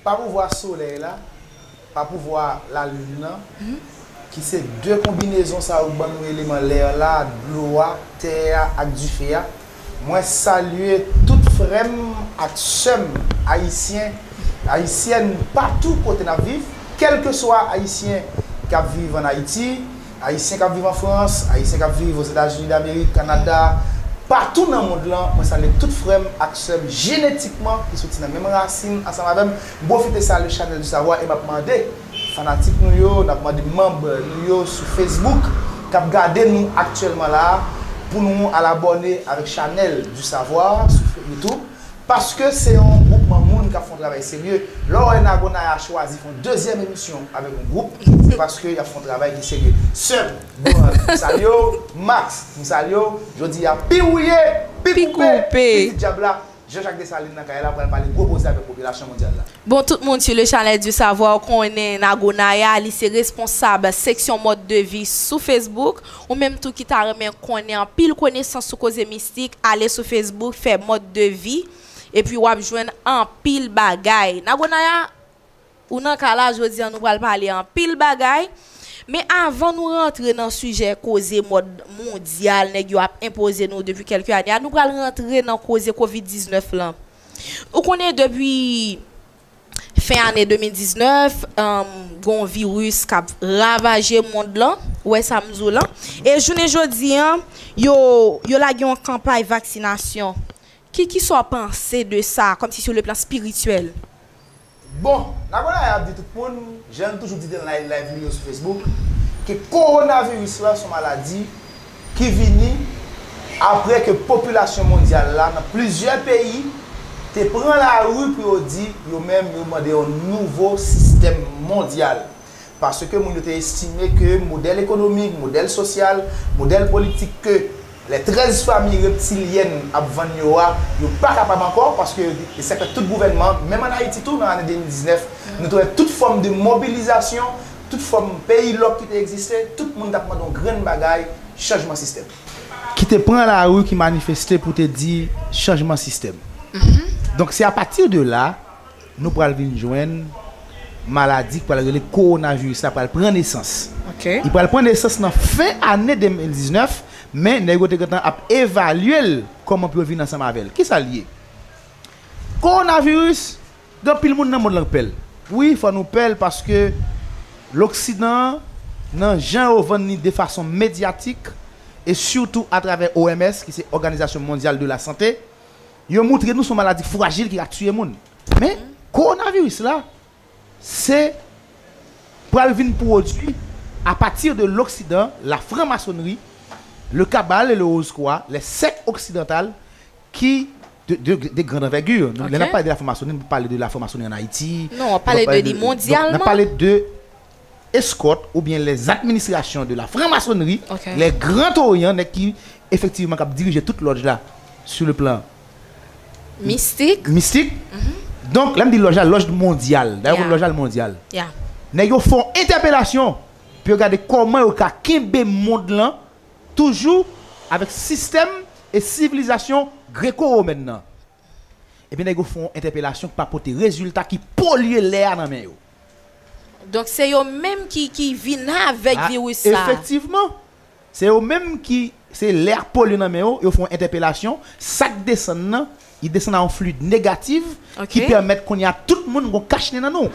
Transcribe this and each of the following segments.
Pa pouvwa solèy la, pa pouvwa lalin nan, ki se de konbinezon sa yo k ban nou eleman lè la, dlo a, tè a ak dife a, mwen salye tout frè m ak sè m ayisyen, ayisyèn patou kote n ap viv, kèlkeswa ayisyen k ap viv an Ayiti, Ayisyen kap viv an Frans, Ayisyen kap viv Ozetazini Damerik, Kanada, patou nan mond lan, mwen salye tout frèm ak sèm jenetikman ki soti nan menm rasin ansanm avèm, m pwofite salye Chanèl du Savoir e map mande fanatik nou yo, nap mande manb nou yo sou Facebook kap gade nou aktyèlman la pou nou al abòne avèk Chanèl du Savoir sou YouTube. Paske se yon gwoupman moun k ap fè yon travay serye. Lè w wè Nagonaya chwazi fè yon dezyèm emisyon avèk yon gwoup, se paske y ap fè yon travay ki serye. Sèm, Goran, m salye w, Max, m salye w, jodi a pi wouye, pi koupe, pi di dyab la, Jean Jacques Dessalines nan kay la pral pale gwo koze avèk popilasyon mondyal la. Bon tout moun sou Le Chalet du Savoir konnen Nagonaya, li se responsab seksyon mòd de vi sou Facebook. Ou menm tou ki ta renmen konnen anpil konesans sou koze mistik ale sou Facebook fè mòd de vi epi wap jwenn anpil bagay. Nago Naya Ou nan ka la jodi an nou pral pale anpil bagay men avan nou rantre nan sijè koze mòd mondyal nèg yo ap enpoze nou depi kèlke ane a nou pral rantre nan koze covid 19 lan ou konnen depi Fen ane 2019, gen yon viris k ap ravaje mond lan, ou wè sa m di w lan. E jounen jodi an, yo lage yon kanpay vaksinasyon. Ki ki sa w panse de sa, kòm si sou le plan espirityèl? Bon, Nagonaye ap di tout moun, jan l toujou di nan layv li yo sou Facebook, ke kowonaviris la se yon maladi, ki vini apre ke popilasyon mondyal la nan plizyè peyi te pran lari pou yo di yo menm yo mande yon nouvo sistèm mondyal paske moun yo te estime ke modèl ekonomik, modèl sosyal, modèl politik ke lè 13 fami reptilyèn ap vann yo a yo pa kapab ankò paske yo di e sa k fè tout gouvènman menm an Ayiti tou nan ane 2019 nou te wè tout fòm de mobilizasyon tout fòm peyi lòk ki te egziste, tout moun t ap mande yon grenn bagay, chanjman sistèm. Ki te pran lari ki manifeste pou te di chanjman sistèm. Donk se apati de la nou pral vin jwenn maladi ki pral rele kowonaviris la pral pran nesans. Li pral pran nesans nan fen ane 2019, men nèg yo te gentan ap evalye l kòman pou yo vin ansanm avè l. Kisa l ye? Kowonaviris. Gen anpil moun nan mond lan k pèl. Wi fò nou pèl paske loksidan an nan jan yo vann li defason medyatik e sitou atravè OMS ki se òganizasyon mondyal de la sante, yo moutre nou se yon maladi frajil ki ka tiye moun. Men kowonaviris la se pral vin pwodui apati de loksidan, la franmasonri, le cabale et le rose-croix, les sectes occidentales ki de grande envergure. Lè nap pale de la franmasoni, nap pale de la franmasoni an Ayiti. Non, wap pale de li mondyalman. Nap pale de eskòt oubyen les administrations de la franc-maçonnerie, les grands orients, nèg ki efektivman kap dirije tout lòj la sou le plan mistik. Mistik. Donk, lèm di lòj la, lòj mondyal. Dayè ou konn lòj la, li mondyal. Nèg yo fè yon entèpelasyon pou yo gade kòman yo ka kenbe mond lan Toujou avèk sistèm e sivilizasyon greko-womèn nan, epi nèg yo fè yon entèpelasyon ki pa pote rezilta ki polye lè a nan men yo. Donk se yo menm ki ki vin avèk viris sa a. Efektivman, se yo menm ki se lè a polye nan men yo, yo fè yon entèpelasyon, sa k desann nan, li desann a yon fluid negatif ki pèmèt kounye a tout moun gen yon kach nen nan nou.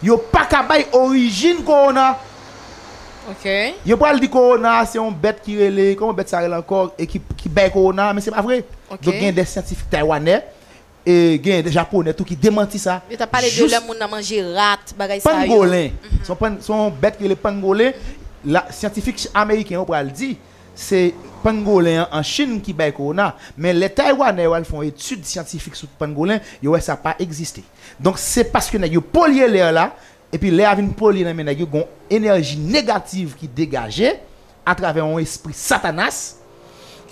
Yo pa ka bay orijin kowona. Ok. Yo pral di kowona a se yon bèt ki rele, kòman bèt sa a rele ankò e ki ki bay kowona a men se pa vre. Ok. Donk gen dè syantifik taywanè e gen dè japonè tou ki demanti sa. Yo ta pale de lè moun nan manje rat, bagay sa yo. Pangolen. Se yon pan, se yon bèt ki rele pangolen. La, syantifik ameriken yo pral di se pangolen an an Chin ki bay kowona. Men lè taywanè yo al fè yon etid syantifik sou pangolen, yo wè sa pa egziste. Donk se paske nèg yo polye lè la, epi lè a vin polye nan men nèg yo, gen yon enèji negativ ki degaje atravè yon espri satanas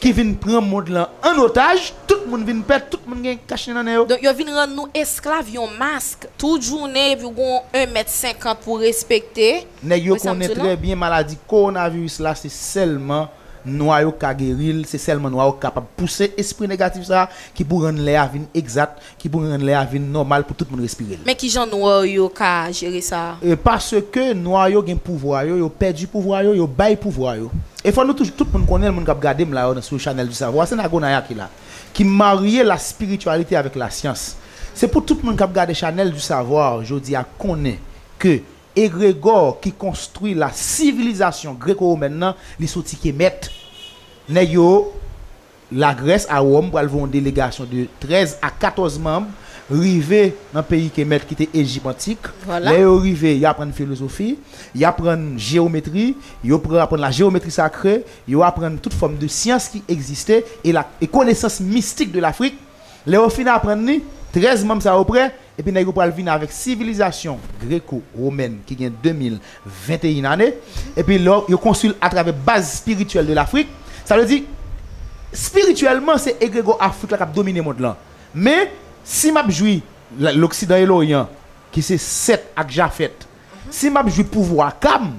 ki vin pran mond lan an otaj, tout moun vin pè, tout moun gen kachnen nan nen yo. Donk yo vin rann nou esklav yon mask tout jounen epi w gen yon 1 mèt 50 pou w respekte. Nèg yo konnen trè byen maladi kowonaviris la se sèlman nwa yo k ka geri l, se sèlman nwa yo k kapab pouse espri negatif sa a ki pou rann lè a vin egzat, Ki pou rann lè a vin nòmal pou tout moun respire l. Men kijan nwa yo ka jere sa a? E paske nwa yo gen pouvwa yo, yo pèdi pouvwa yo, yo bay pouvwa yo. E fò nou toujou, tout moun konnen l, moun k ap gade m la yo sou Chanèl du Savoir, se Nagonaya ki la. Ki marye la spiritualité avèk la syans. Se pou tout moun k ap gade Chanèl du Savoir jodi a konnen ke egregò ki konstwi la sivilizasyon Greco-Romaine nan, li soti Kemet. Nèg yo. Lagrès a Wòm pral voye yon delegasyon de 13 a 14 manb rive nan peyi Kemèt ki te Ejip antik. Lè yo rive, yo aprann filozofi, y aprann jewometri, yo pran aprann la jewometri sakre, yo aprann tout fòm de syans ki egziste e la e konesans mistik de Lafrik. Lè yo fin aprann li, 13 manb sa yo prè. Epi nèg yo pral vini avèk sivilizasyon greko romèn ki gen 2021 ane, epi lè yo konstwi l atravè baz spirityèl de Lafrik, sa vle di spirityèlman se egregò Afrik la k ap domine mond lan. Men, si m ap jwi Loksidan e Loryan ki se Sèt ak Jafèt, si m ap jwi pouvwa Kam,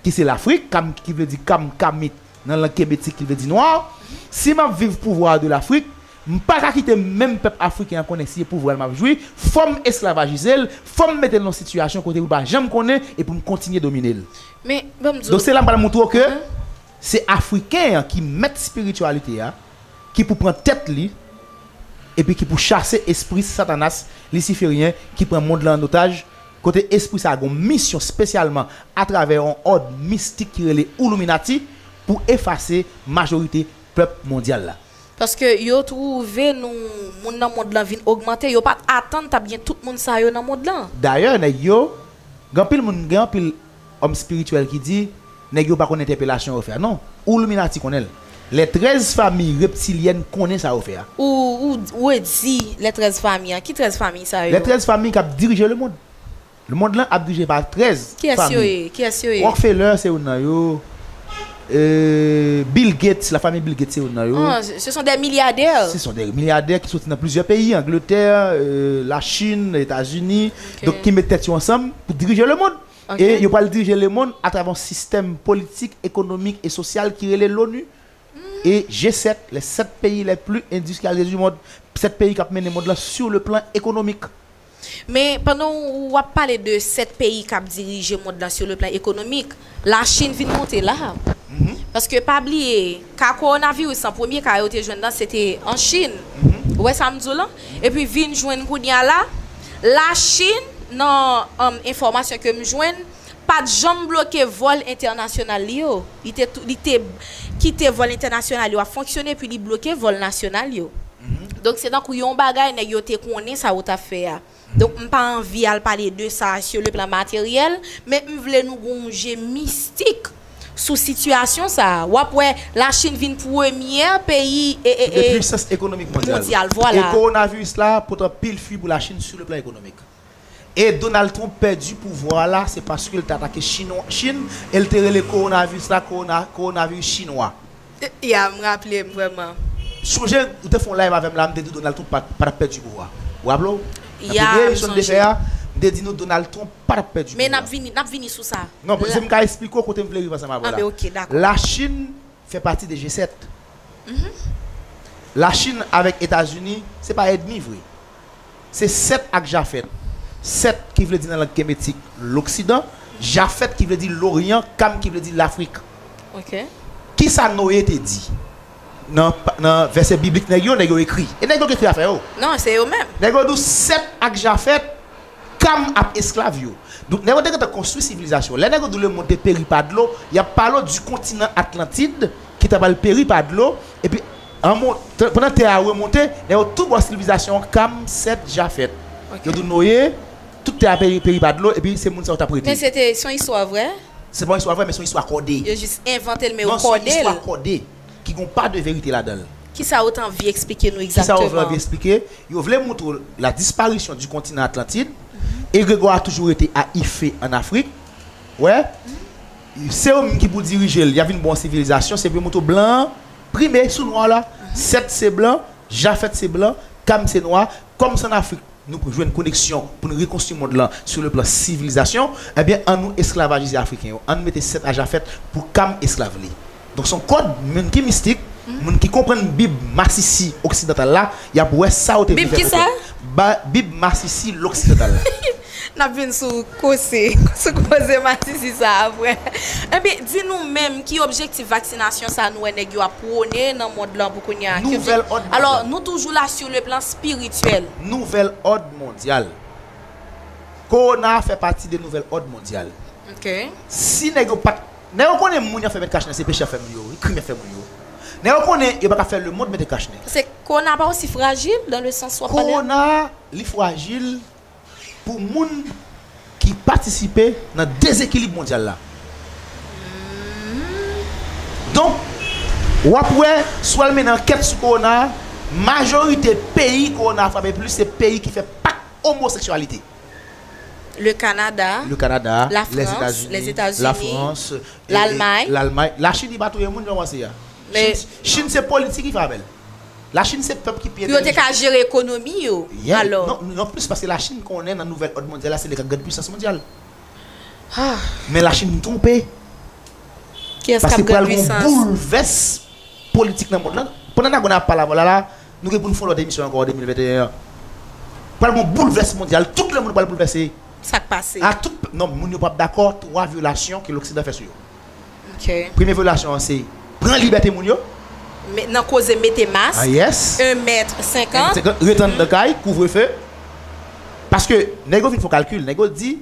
ki se Lafrik, Kam ki vle di Kam, Kamit, nan lang kemetik ki vle di nwa. Si m ap viv pouvwa de Lafrik, m pa ka kite menm pèp Afriken an konnen si e pouvwa l m ap jwi, fò m esklavajize l, fò m mete l nan yon sitiyasyon kote pou l pa janm konnen e pou m kontinye domine l. Men, ban m di w. Donk se la m pral montre w ke se Afriken an ki mèt spirityalite a, ki pou pran tèt li, epi ki pou chase espri satanas lisiferyen ki pran mond lan an otaj, kote espri sa a gen yon misyon spesyalman atravè yon òd mistik ki rele Illuminati pou efase majorite pèp mondyal la. Paske yo twouve nou moun nan mond lan vin ogmante, yo pa t atann t ap gen tout moun sa yo nan mond lan. Dayè nèg yo, gen anpil moun, gen anpil. Òm spirityèl ki di, Nèg yo pa konn entèpelasyon yo fè a non. Oulluminati konnen l. Lè 13 fami reptilyèn konnen sa yo fè a. Ou, ou, ou redi lè 13 fami an. Ki 13 fami sa Lè yo? 13 fami k ap dirije lemond. Lemond lan ap dirije pa 13 fami. Kiyès yo ye? Kiyès yo ye? Rockefeller se youn nan yo. E, Bill Gates, la fami Bill Gates se youn nan yo. An, se son dè milyadè. Se son dè milyadè ki soti nan plizyè peyi, Angletè, Lachin, Etazini. Donk ki met tèt yo ansanm pou dirije lemond. e yo pral dirije lemonn atravè yon sistèm politik, ekonomik e sosyal ki rele Loni e G-7, les sept pays les plus industrialisés du monde, 7 peyi k ap mennen mond lan sur le plan économique. Men, pandan w ap pale de 7 peyi k ap dirije mond lan sur le plan économique, Lachin vin monte la a. Paske pa bliye. Ka kowonaviris lan, premye ka yo te jwenn lan se te an Chin. Ou wè sa m di w lan? Epi vin jwenn kounye a la, Lachin, nan enfòmasyon ke m jwenn, pa t janm bloke vòl entènasyonal li yo. Li te li te kite vòl entènasyonal yo ap fonksyone epi li bloke vòl nasyonal yo. Donk se tankou yon bagay nèg yo te konnen sa yo t ap fè a. Donk m pa anvi al pale de sa sur le plan matériel, men m vle nou gen yon je mistik sou sitiyasyon sa a. W ap wè Lachin vin premyè peyi mondyal. Vwala. Kowonaviris la pote anpil fwi pou Lachin sur le plan ekonomik. E Donald Trump pèdi pouvwa a la se paske l te atake Chin e l te rele kowonaviris la kowonaviris chinwa. Yeah m raple m vreman. Sonje ou te fon live avem la m te diw Donald Trump patap pèdi bo a ou raple w nan premye emisyon n te fè a m te di nou Donald Trump patap pèdi bo a non paske m ka esplike w kote m vle rive ansanm avèw la la chine fè pati de G7 la chine avèk etazini se pa èdmi vre. Se Sèt ak Jafèt. Sèt ki vle di nan lang kemetik Loksidan, Jafèt ki vle di Loryan, Kam ki vle di Lafrik. Ki sa Noye te di nan vèsè biblik nèg yo? Nèg yo ekri. E nèg yo ki ekri afè yo. Nèg yo dou Sèt ak Jafèt, Kam ak esklav yo. Donk nèg yo te gentan konstwi sivilizasyon. Lè nèg yo dou lemonn te peri pa dlo, y ap pale w di kontinan Atlantid ki ta pral peri pa dlo epi. Pandan tè a remonte, lè yo tou bò silvizasyon Kam, Sèt, Jafèt, yo tou noye, tout tè a peri pa dlo, epi se moun sa yo t ap rete. Men se te, se yon istwa vrè? Se pa yon istwa vrè, men se yon istwa kòde. Yo jis envante l, men yo kòde l. Non, se yon istwa kòde, ki gen yon pa de verite ladan l. Kisa yo te anvi esplike nou egzakteman? Kisa yo vle anvi esplike? Yo vle montre w la disparisyon di kontinan Atlantid, egregò a toujou rete a Ife an Afrik, ou wè, se yo menm ki pou dirije l, y ap vin ba w yon sivilizasyon, se pou yo montre w blan an, Prime sou nwa la, Sèt se blan, Jafèt se blan, Kam se nwa. Kòm se ann Afrik nou pou jwenn koneksyon pou nou rekonstwi mond lan sou le plan sivilizasyon, ebyen an nou esklavajize Afriken yo. An n mete Sèt a Jafèt pou Kam esklav li. Donk se yon kòd moun ki mistik, moun ki konprann bib masisi oksidantal la, y ap wè sa yo te vle fè pote. Bib kisa? Bib masisi loksidantal la. Nap vin sou kose sou koze masisi sa aprè. Enben, di nou menm ki objektif vaksinasyon sa nou wè nèg yo ap pwone nan mond lan pou kounye a? Nouvèl òd mondyal. Alò, nou toujou la sur le plan spirituel. Nouvèl òd mondyal. Kowona a fè pati de nouvèl òd mondyal. Ok. Si nèg yo pat, nèg yo konnen moun yap fè met kachnen se peche yap fè moun yo wi, krim yap fè moun yo. Nèg yo konnen yo paka fè le mond mete kachnen. Paske kowona pa osi frajil dan le sans wap pale a? Kowona a, li frajil. pou moun ki patisipe nan dezekilib mondyal la. Donk, w ap wè, si w al mennen ankèt sou kowona a, majorite peyi kowona a frape plis se peyi ki fè pak omoseksyalite. Le Kanada, Le Kanada, La Frans, Lèzetazini, Lèzetazini, La Frans, Lalmay. Lalmay. Lachin ki pa touye moun, jan w panse a. Chinn se politik ki fè avè l. La Chine se pèp ki pi entèlijan. Pou yo te ka jere ekonomi yo, alò. Yen, an plis paske La Chine konnen nan nouvèl òd mondyal la se li kap grand pwisans mondyal. Men La Chine twonpe. Kiyès kap grand pwisans? Paske pral gon boulvès politik nan mond lan. Pandan Nagona ap pale avèw la la, nou gen pou nou fè yon lòt emisyon ankò an 2021 an. Pral gon boulvès mondyal, tout lemond pral boulvèse. Sak pase? A tout, non moun yo pap dakò 3 vyolasyon ke loksidan fè sou yo. Premye vyolasyon an se pran libète moun yo. Nan koze mete mask, 1 mèt 50. 1 mèt 50, ret anndan kay, kouvrefe. Paske nèg yo vin fon kalkil, nèg yo di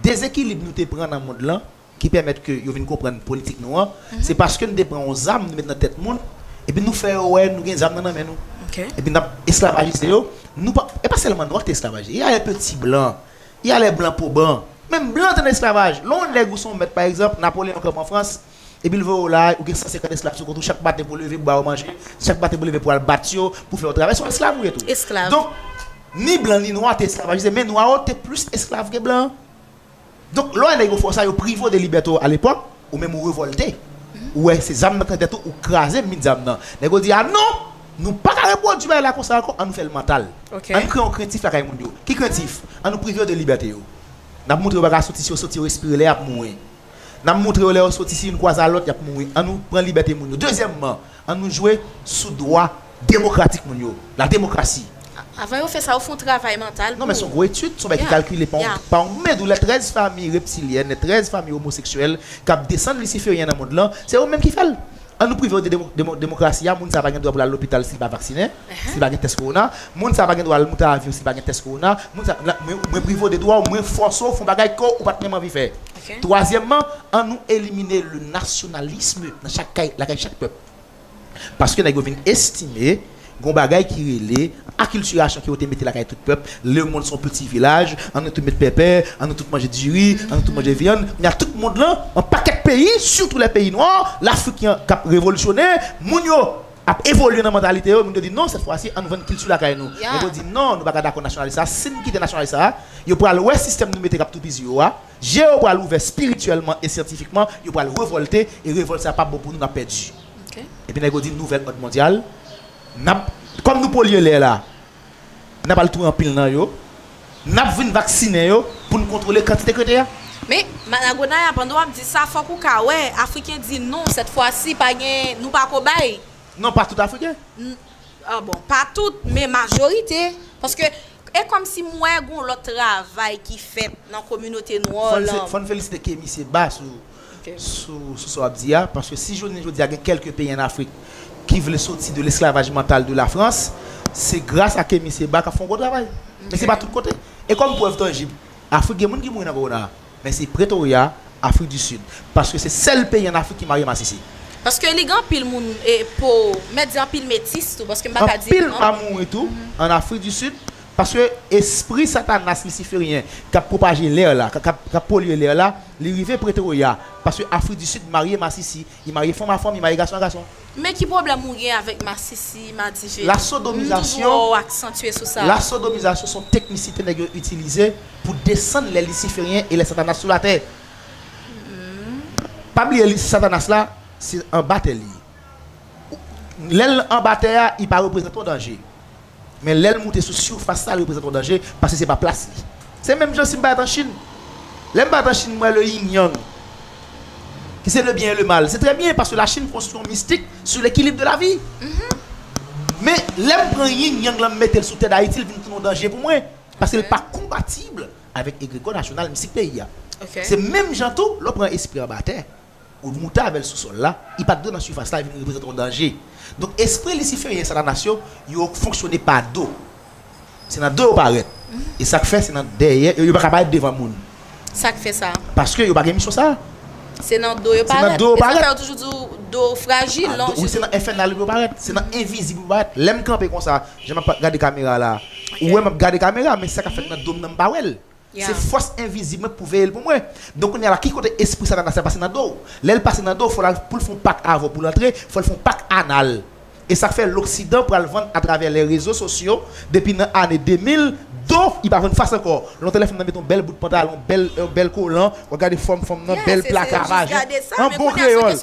dezekilib nou te pran nan mond lan ki pèmèt ke yo vin konprann politik nou an, se paske nou te pran yon zam nou met nan tèt moun epi nou fè yo wè nou gen zam nan nan men nou. Epi n ap esklavajize yo. E pa sèlman nwa ki te esklavaje, e ayè ke ti blan Y a lè blan po ban. Menm blan te nan esklavaj. Lè w nèg ou se yon mèt pa egzanp, Napoleyon kanpe an Frans, epi l voye w la, ou gen 150 esklav sou kont ou, chak maten pou w leve pou ba yo manje, chak maten pou w leve pou w al bat yo, pou fè yo travay, se yon esklav ou ye tou. Donk, ni blan ni nwa te esklavajize, men nwa yo te plis esklav ke blan. Donk, lè w wè nèg yo fè w sa, yo prive w de libète w alepòk, Ou menm ou revolte, ou wè se zam nan k nan tèt ou, ou kraze mit zam nan. Nèg yo di a non! Nou pa ka repwodui bagay la konsa ankò, an nou fè l mantal. An n kreye yon krentif lakay moun yo. Ki krentif? An nou prive yo de libète yo. N ap montre yo pa ka soti, si yo soti yo respire lè y ap mouri. N ap montre yo lè yo soti si youn kwaze a lòt y ap mouri. An nou pran libète moun yo. Dezyèmman. An nou jwe sou dwa demokratik moun yo, la demokrasi. Avan yo fè sa yo fè yon travay mantal pou. Non men son gwo etid, son bagay ki kalkile pa yon medou lè 13 fami reptilyèn, lè 13 fami omoseksyèl kap desann lisiferyen nan mond lan, se yo menm ki fèl. An nou privew de demokrasi a, moun sa pa gen dwa pou lal lopital sil pa vaksinen, sil pa gen tès kowona, moun sa pa gen dwa al moute avyon sil pa gen tès kowona, moun sa, mwen privew de dwaw, mwen fòsew fon bagay ke ou pat menm anvi fè. Twazyèmman, an nou elimine le nationalisme nan chak kay, lakay chak pèp. Paske nèg yo vin estime gen yon bagay ki rele akiltirasyon ke yo te mete lakay tout pèp, lemonn se yon piti vilaj, an nou tout met pèpè, an nou tout manje diri, an nou tout manje vyann. Kounye a tout mond lan, yon pakèt peyi, sitou lè peyi nwa, lafriken k ap revolisyone, moun yo. Ap evolye nan mantalite yo, moun yo di non sèt fwa si ann vann kilti lakay nou. Gen pou di non nou pa ka dakò nasyonalis sa, si n kite nasyonalis sa, yo pral wè sistèm nou mete k ap toupizi yo a, je yo pral ouvè spirityèlman e syantifikman, yo pral revòlte e revòlt sa pap bon pou nou n ap pèdi. Epi nèg yo di nouvèl òd mondyal, n ap, kòm nou polye lè la, N ap al touye anpil nan yo. N ap vin vaksinen yo pou n kontwole kantite krete a. Men, Maragonaya, pandan w ap di sa, fòk ou ka wè, Afriken di non, sètfwasi, pa gen, nou pa ko bay. Non, pa tout Afriken. N, a bon, pa tout, men majorite. Paske, e kòmsi m wè gen yon lòt travay ki fèt nan kominote nwò lan. Fò n felisite Kemi Seba sou sou sa w ap di a, paske si jounen jodi a gen kèlke peyi an Afrik ki vle soti de lesklavaj mantal de Lafrans, se gras a Kemi Seba k ap fè yon gwo travay. Men se pa tout kote. E kòm prèv tanjib, Afrik gen moun ki mouri nan kowona a, men se Pretorya, Afrik di Sid, paske se sèl peyi an Afrik ki marye masisi. Paske li gen anpil moun po, m mèt di anpil metis tou, paske m pa ka di. Anpil pa mouri tou an Afrik di Sid, Paske espri satanas lisiferyen kap pwopaje lè la, kap polye lè la, li rive Pretoria, paske Afrik di Sid marye masisi, li marye fanm a fanm, li marye gason a gason. Men ki pwoblèm ou gen avèk masisi, madivin? M toujou wè w aksantye sou sa. La sodomizasyon son teknisite nèg yo itilize pou desann lè lisiferyen e lè satanas sou latè. Pa bliye li satanas la se anba tè li ye. Lè l anba tè a, li pa reprezante yon danje. Men lè l moute sou surface la li reprezante yon danje paske se pa plas li. Se menm jan si m pa t an Chine. Lè m pa t an Chine m wè le yin yang ki se le byen e le mal. Se trè byen paske la Chine konstwi yon mistik sou lekilib de la vi. Men lè m pran yin yang lan m mete l sou tè dayiti l vin tounen yon danje pou mwen paske l pa konpatib avèk egregò nasyonal mistik peyi a. Se menm jan tou lè w pran espri anba tè. Ou moute avè l sou sòl la, li pa t dwe nan sifas la, li vin reprezante yon danje. Donk, espri lisiferyen, Satanas yo, yo fonksyone pa do. Se nan do yo parèt. E sa k fè se nan dèyè, yo pa ka parèt devan moun. Sa k fè sa? Paske yo pa gen misyon sa a. Se nan do yo parèt. Se nan do yo parèt. E sa k fè yo toujou di w do frajil, non? Wi, se nan enfènal yo pou yo parèt. Se nan envizib yo pou yo parèt. Lè m kanpe konsa, jan m ap gade kamera la a, ou wè m ap gade kamera, men sa k ap fèt nan do m nan m pa wè l. Se fòs envizib mwen pou veye l pou mwen. Donk kounye a la, ki kote espri satanas la pase nan do w? Lè l pase nan do w, fò l al pou l fè yon pak avè w pou l antre, fò l fè yon pak anal. E sa k fè loksidan pral vann atravè lè rezo sosyo depi nan ane 2000, do li pa vann fas ankò. Lontan lè fanm nan mete yon bèl bout pantalon, bèl yon bèl kolan, w ap gade fòm fanm nan, bèl plaka vajen, an bon kreyòl.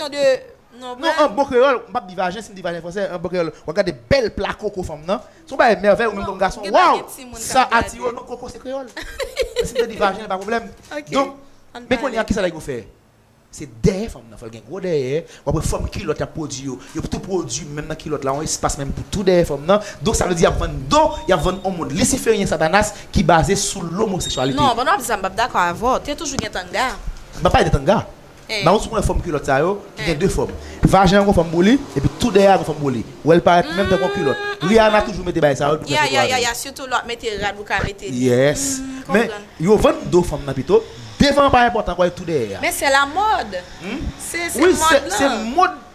Non mwen. Non an bon kreyòl, m pap di vajen, si m di vajen fransè, an bon kreyòl, w ap gade bèl pla koko fanm nan, se yon bagay mèvèy ou menm kòm gason, waww, sa atire w, non koko se kreyòl. Men si m te di vajen, pa pwoblèm. Donk, men kounye a kisa nèg yo fè? Se dèyè fanm nan, fò l gen gwo dèyè, w ap wè fòm kilòt y ap pwodui yo, yo tou pwodui menm nan kilòt la, yon espas menm pou tou dèyè fanm nan, donk sa vle di y ap vann do, y ap vann yon mond lisiferyen satanas ki baze sou lomoseksyalite. Non, pandan w ap di sa m pap dakò avè w, te toujou gen tanga. M pap pale de tanga. Marout sou konn wè fòm kilòt sa yo ki gen 2 fòm. Vajen an gon fòm pou li epi tou dèyè a gon fòm pou li. Wè l parèt menm tankou yon kilòt. Rihanna toujou mete bagay sa yo epi gen foto avè l. Yes. Men, yo vann do fanm nan pito. Devan an pa enpòtan kwè tou dèyè a. Wi, se mòd.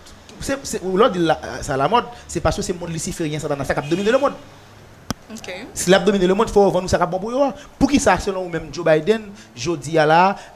Lè w di sa lamòd, se paske se mond lisiferyen satana sa k ap domine lemond. Si l ap domine lemond fò yo vann nou sa k ap bon pou yo a. Poukisa selon ou menm Joe Biden jodi a la a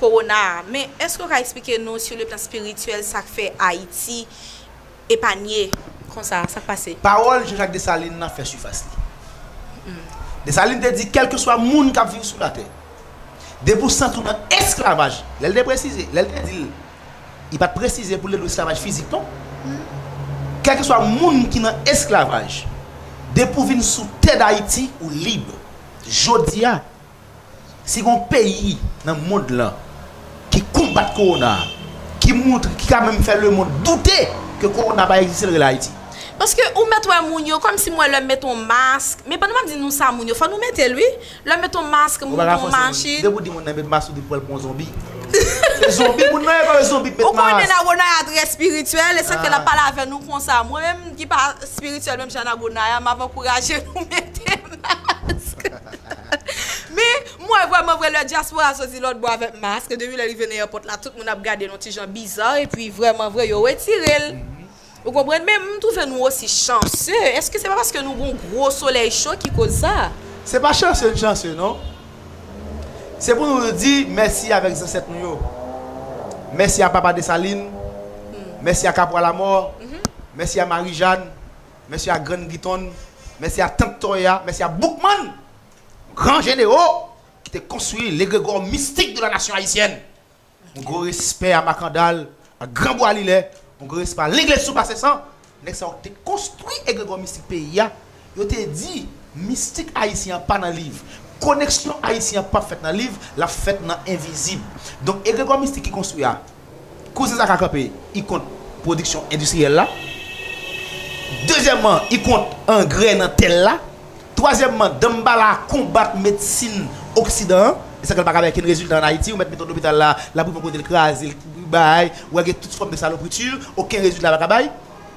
Kowona a. Men, èske w ka esplike nou sou le plan espirityèl sa k fè Ayiti epanye konsa? Sa k pase? Pawòl Jean-Jacques Dessalines lan fè sifas li. Dessalines te di kèlkeswa moun k ap viv sou latè, depi w santi w nan esklavaj, lè l te presize, lè l te di l, li pa t presize pou l te dwe esklavaj fizik non, kèlkeswa moun ki nan esklavaj, depi w vin sou tè Dayiti, ou lib. Jodi a. Si gon peyi nan mond lan ki konbat kowona a, ki montre, ki ka menm fè lemond doute ke kowona pa egziste l rele Ayiti. Paske ou mèt wè moun yo, kòm si m wè lè m mete yon mask, men pandan m ap di nou sa moun yo, fò nou mete l wi, lè m mete yon mask, moun nan yon machin. Depi w di moun nan met mask ou di pou wè l pou yon zonbi. Se zonbi moun nan ye kòm yon zonbi k met mask. Ou konnen Nagonaya trè espirityèl, e sa k fè l ap pale avè nou konsa. Mwen menm ki pa espirityèl menm jan Nagonaya, m ap ankouraje nou mete mask. Men, m wè vrèman vre lè dyaspora soti lòtbò avèk mask, depi lè li vin eyèpòt la, tout moun ap gade n yon ti jan biza, epi vrèman vre yo retire l. Ou konprann? Men, m twouve nou osi chanse. Èske se pa paske nou gen yon gwo solèy cho ki koz sa? Se pa chanse n chanse non. Se pou nou di mèsi avèk zansèt nou yo. Mèsi a Papa Desalin, mèsi a Kapwa Lamò, mèsi a Mari Jàn, Mèsi a Grann Giton, mèsi a Tant Toya, mèsi a Boukman, gran jenero ki te konstwi legregò mistik de la nasyon ayisyèn. Yon gwo respè a Makandal, a Gran Bwa Lilè, yon gwo respè a Legliz Sou Pase San, nèg sa yo ki te konstwi egregò mistik peyi a, yo te di mistik ayisyen an pa nan liv, koneksyon ayisyen an p ap fèt nan liv, l ap fèt nan envizib. Donk egregò mistik ki konstwi a, Kouzen sa ka kanpe I kont pwodiksyon endistriyèl la Dezyèmman I kont angrè nan tè l la Twazyèmman Danmbala konbat medsin oksidan an E sa fè l pa ka bay kenn rezilta an Ayiti Ou mèt mete yon lopital la l ap rive yon kote l kraze l bay Ou wè gen tout fòm de salopri tu Oken rezilta l pa ka bay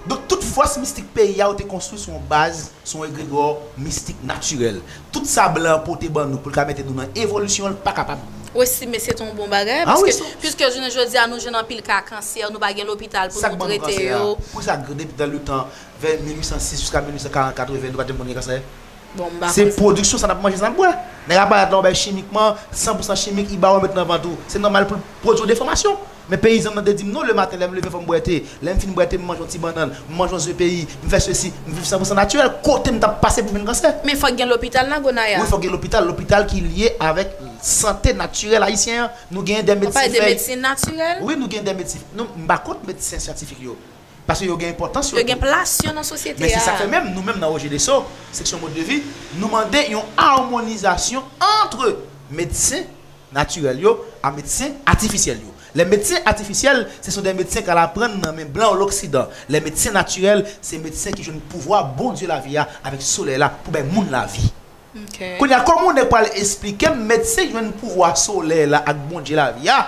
Donk tout fòs mistik peyi a yo te konstwi sou yon baz, sou yon egregò mistik natirèl. Tout sa blan an pote ban nou pou l ka mete nou nan evolisyon l pa kapab. Ou estime se te yon bon bagay? Paske, piske jounen jodi a nou jwenn anpil ka kansè, nou pa gen lopital pou nou trete yo. Poukisa depi dan le tan, vè 1806 jiska 1840, 80, nou pa t janm konn gen kansè? Bon, m pa konn. Se pwodiksyon sa n ap manje, sa n ap bwè. Nèg aparèt la yon bèy chimikman, san pou san chimik, li ba w, li met nan vant ou. Se nòmal pou l pwodui yon defòmasyon. Men peyizan m nan te di m, non, lematen lè m leve fò m bwè te, lè m fin bwè te m manje yon ti bannann, m manje yon ze peyi, m fè sesi, m viv san pou san natirèl, kote m t ap pase pou vin kansè? Men fòk gen lopital nan Gonaya. Wi fòk gen lopital, lopital ki lye avèk sante natirèl ayisyen an. Nou genyen dè medsen fèy. Ou pale de medsen natirèl? Wi nou genyen dè medsen, m pa kont medsen syantifik yo. Paske yo gen enpòtans yo tou. Yo gen plas yo nan sosyete a. Men se sa k fè menm nou menm nan Ojedeso, seksyon Mode de Vie, nou mande yon amonizasyon antre medsen natirèl yo a medsen atifisyèl yo. Lè medsen atifisyèl, se son de medsen k al aprann nan men blan loksidan. Lè medsen natirèl, se medsen ki jwenn pouvwa Bondye lavi a avèk solèy la pou bay moun lavi. Kounye a, kòman yon nèg pral esplike m medsen jwenn pouvwa solèy la ak Bondye lavi a,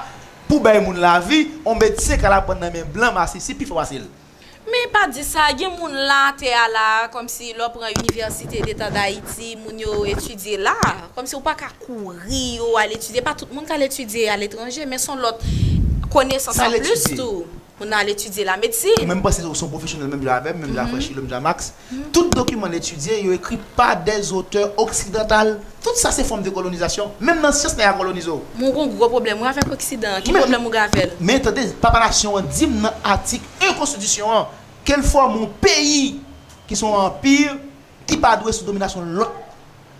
Pou bay moun lavi, on medsen kal aprann nan men blan masisi pi fasil. Men pa di sa, gen moun la atè a la a, kòmsi lè w pran Inivèsite Deta Dayiti, moun yo etidye la a, kòmsi ou pa ka kouri yo al etidye, pa tout moun k al etidye aletranje, men s on lòt konesans anplis tou. Ou nan al etidye la medsin. Ou menm panse ou son pwofesyonèl menm jan avèm, menm jan Afranchi, menm jan Max. Tout dokiman n etidye, yo ekri pa dè zotè oksidantal. Tout sa se fòm de kolonizasyon. Menm nan syans nèg a kolonize w. Mwen gon gwo pwoblèm wi avèk oksidan an. Ki pwoblèm ou gen avè l? Men tande, papa nasyon an di m nan atik 1 konstitisyon an, ke l fòme yon peyi ki son anpi ki pa dwe sou dominasyon lòt.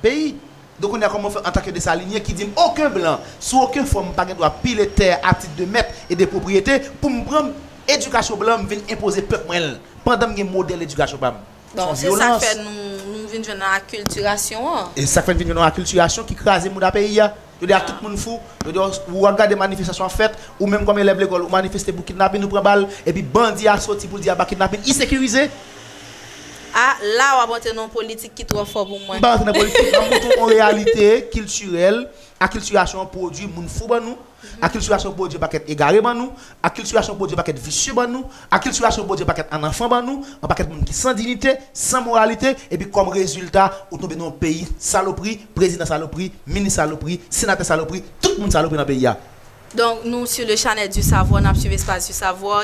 Peyi. Don kounye a kòman ou fè antanke Desalinyen ki di m oken blan sou oken fòm pa gen dwa pile tè a tit de mèt e de pwopriyete pou m pran edikasyon blan m vin enpoze pèp mwen l pandan m gen modèl edikasyon pa m? Bon, se sa k fè nou vin jwenn nan akiltirasyon an. E sa k fè n vin jwenn nan akiltirasyon ki kraze mouda peyi a. Jodi a tout moun fou, jodi a ou ap gade manifestasyon ap fèt, ou menm kòm elèv lekòl ou manifeste pou kidnapin ou pran bal, epi bandi a soti pou l di aba kidnapin isekirize. A la w ap antre nan yon politik ki twò fò pou mwen. M pa antre nan politik, banm moutre w yon reyalite kiltirèl akltirasyon pwodui moun fou ban nou, akltirasyon pwodui yon pakèt egare ban nou, Akiltirasyon Bondye pakèt visye ban nou, akiltirasyon Bondye pakèt annanfan ban nou, an pakèt moun ki san dinite, san moralite, epi kòm rezilta ou tonbe nan yon peyi salopri, prezidan salopri, minis salopri, senatè salopri, tout moun salopri nan peyi a. Donk nou sou le chanèl du savoir, nap swiv espas du savoir.